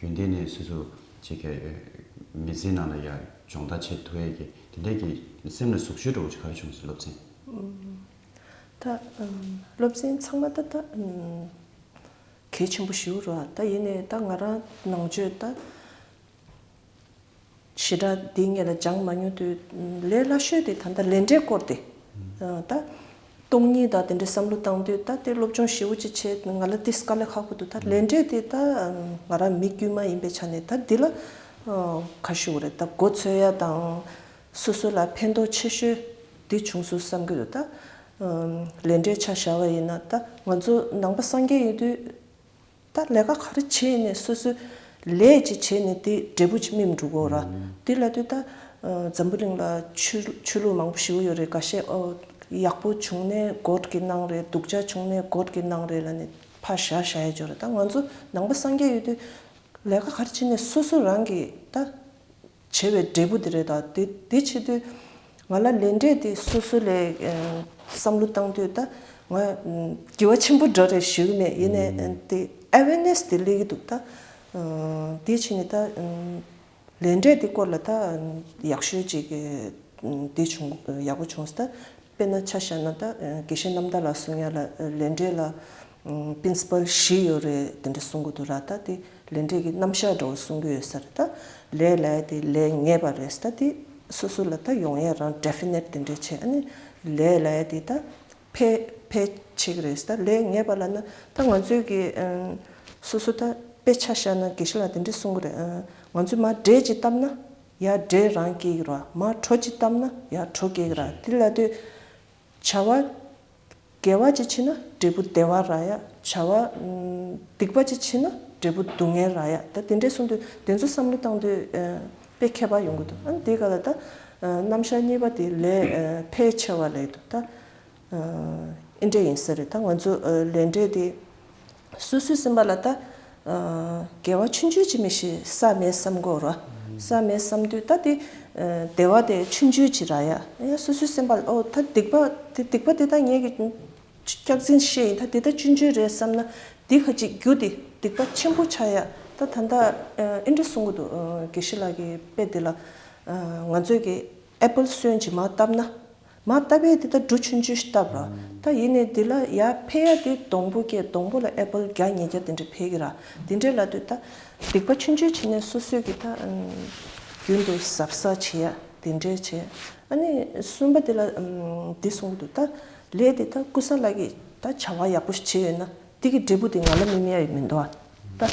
རྒྱུན་ལྡན་ནས་སུས་སུ་བྱེད་ཁ་མི་ཟིན་ནང་ལ་ཡ་སྦྱོང་ད་ཆེད་དུ་ཡེ་གི་དེ་འད་གི་སེམས་ལ་ཟུག་ཤོས་འགྲོ་གི་ག་རེ་བྱུང་སོང་སློབ་ཚན། ད་སློབ་ཚན་ཚང་མ་ད་ད་གལ་ཆེན་པོ་ཞིག་རུ་ད་ཡེ་ནས་ད་ང་རང་ནང་ཆོས་ད། བྱེ་བྲག་འདི་ངེད་ལ་སྦྱངས་མ་མྱོང་དུས་ལས་སླ་ཤོས་དེ་ད་ལྟ་ལས་འབྲས་བསྐོར་ཏེ་ད་སྟོང་ཉིད་ད་དེ་འདྲའི་བསམ་བློ་བཏང་དུས་ད་དེ་སློབ་སྦྱོང་ཞེ་བོ་ཅིག་བྱས་ང་ལ་དེ་དཀའ་ལས་ཁག་པོ་འདུག་ད་ལས་འབྲས་དེ་ད་ང་རང་མི་དཀྱུས་མ་ཡིན་པའི་ཆ་ནས་ད་འདི་ལ་ཁ་ཞུ་བ་རེད་ད་མགོ་འཚོས་ཡ་དང་སོ་སོ་ལ་ཕན་ཐོགས་ཆེ་ཤོས་དེ་བྱུང་སོང་བསམ་གྱི་འདུག་ད་ལས་འབྲས་ཆ་བཞག་པ་ཡིན་ན་ད་ང་ཚོ་ནང་པ་སངས་རྒྱས་ཡིན་དུས། ད་ལས་ཀ་ག་རེ་བྱེད་ནས་སོ་སོའི་ལས་ཅིག་བྱེད་ནས་དེ་འབྲས་བུ་ཅིག་སྨིན་འགྲོ་དགོས་ར། དེ་ལ་དུས་ད་འཛམ་བུ་གླིང་ལ་ཆོས་ལུགས་མང་པོ་ཞི་བོ་ཡོད་རེད་ག་ཤེད་ཡག་པོ་བྱུང་ནས་གོར་གི་གནང་རེད་སྡུག་ཅག་བྱུང་ནས་གོར་གི་གནང་རེད་ལ་ནི་ཕ་བཞག་བཞག་ཡས་འཇོག་རེད་ད་ང་ཚོ་ནང་པ་སངས་རྒྱས་ཡོད་དུས་ལས་ཀ་ག་རེ་བྱེད་ནས་སོ་སོ་རང་གི་ད། བྱས་པའི་འབྲས་བུ་དེ་རེད་ད། དེ་ཆེད་དུ་ང་ལ་ལས་འབྲས་དེ་སོ་སོ་ལས་བསམ་བློ་བཏང་དུས་ད་ང་དགེ་བ་ཆེན་པོ་འདྲ་རེ་ཞུ་གི་མེད་ཡེ་ནས་དེ awareness དེ་སླེབས་ཀྱི་འདུག་ད། དེ་ཕྱིན་ནས་ད་ལས་འབྲས་དེ་སྐོར་ལ་ད་ཡག་ཤོས་ཅིག་དེ་བྱུང་ཡག་པོ་བྱུང་སྟེ་ད། དཔེར་ན་ཆ་བཞག་ན་ད་དགེ་བཤེས་རྣམ་དག་ལ་གསུང་ཡ་ལ་ལས་འབྲས་ལ Principle བཞི་ཡོད་རེད་དེ་འདྲ་གསུང་གི་འདུག་ར་ད་དེ་ལས་འབྲས་ཀྱི་རྣམ་གཞག་འདྲ་བོ་གསུང་གི་ཡོད་ས་རེད་ད་ལས་ལས་དེ་ལས་ངེས་པ་རེད་ད་དེ་སོ་སོ་ལ་ད་ཡོང་ཡ་རང Definite དེ་འདྲས་བྱས་ཨ་ནི་ལས་ལས་དེ་ད་ཕལ་ཕལ་ཆེ་གི་རེད་ད་ལས་ངེས་པ་ལ་ན་ད་ང་ཚོས་ཀྱི་སོ་སོ་ད་དཔེ་ཆ་བཞག་ན་དགེ་བཤེས་ལ་དེ་འདྲས་གསུང་གི་རེད་ང་ཚོས་མ་འབྲས་ཀྱི་བཏབ་ན་ཡར་འདྲེ་རང་སྐེག་ར་མ་གྲོ་ཅི་བཏབ་ན་ཡར་གྲོ་སྐེག་ར་ཏི་ལ་ཏོའི། བྱ་བ། དགེ་བ་ཅི་བྱེད་ན་འབྲས་བུ་བདེ་བ་ར་ཡ་བྱ་བ། སྡིག་པ་ཅི་བྱེད་ན་འབྲས་བུ་སྡུག་བསྔལ་ར་ཡ་ད་དེ་འདྲས་གསུངས་དུས་དེ་ཚོ་བསམ་བློ་བཏང་དུས་དཔེ་མཁས་པ་ཡོང་གི་འདུག་ཨ་ནི་དེ་ག་ལ་ད་རྣམ་གཞག་གཉིས་པ་དེ་ལས་ཕལ་ཆེ་བ་ལས་འདུག་ད། ཨེ་འདྲས་ཡིན་ས་རེད་ད་ང་ཚོ་ལས་འབྲས་དེ་སོ་སོའི་སེམས་པ་ལ་ད་འགལ་བ་ཆུང་ཆུང་ཅིག་མི་ཤེས་ས་མེད་བསམ་དགོས་ར་ས་མེད་བསམ་དུས་ད་དེ་འདས་བ་དེ་ཆུང་ཆུང་ཅིག་ར་ཡ་ཡ་སོ་སོའི་སེམས་པ་ལ་ཨོ་ད་སྡིག་པ་དེ་སྡིག་པ་དེ་ད་ངེད་ཀྱི་སྐྱག་རྫིན་བཤད་ཡིན་ད་དེ་ད་ཆུང་ཆུང་རེད་བསམ་ན་འདི་ཁ་ཅིག་རྒྱུ་དེ་སྡིག་པ་ཆེན་པོ་ཆགས་ཡ་ད་ད་ད་ཨེ་འདྲས་གསུང་གི་འདུག་དགེ་བཤེས་ལགས་ཀྱི་དཔེ་དེ་ལ་ང་ཚོས་ཀྱི། Apple སོན་ཅིག་མ་བཏབ་ན། མ་བཏབ་པས་འདི་ལྟར་འབྲུ་ཆུན་ཅུ་ཞིག་བཏབ་ར། ད་ཡིན་ནས་འདི་ལ་ཡ་འཕེལ་ཡ་དེ་སྡོང་པོ་སྐྱེས་སྡོང་པོ་ལ Apple བརྒྱ་ཉིས་བརྒྱ་དེ་འདྲས་འཕེལ་གི་ར། དེ་འདྲས་ལ་དུས་ད། སྡིག་པ་ཆུན་ཆུན་བྱེད་ནས་སོ་སོས་ཀྱི་ད། རྒྱུན་དུ་ཟབ་ས་བྱེད་ཡ་དེ་འདྲས་བྱས། ཨ་ནི་གསུམ་པ་དེ་ལ་འདི་གསུང་གི་འདུག་ད། ལས་དེ་ད་ཀུ་ས་ལ་གིས་ད་བྱ་བ་ཡག་པོ་ཞིག་བྱས་ཡོད་ན། དེ་གི་འབྲས་བུ་དེ་ང་ལ་སྨིན་ཡ་ཡི་མི་འདུག་ཨ། ད།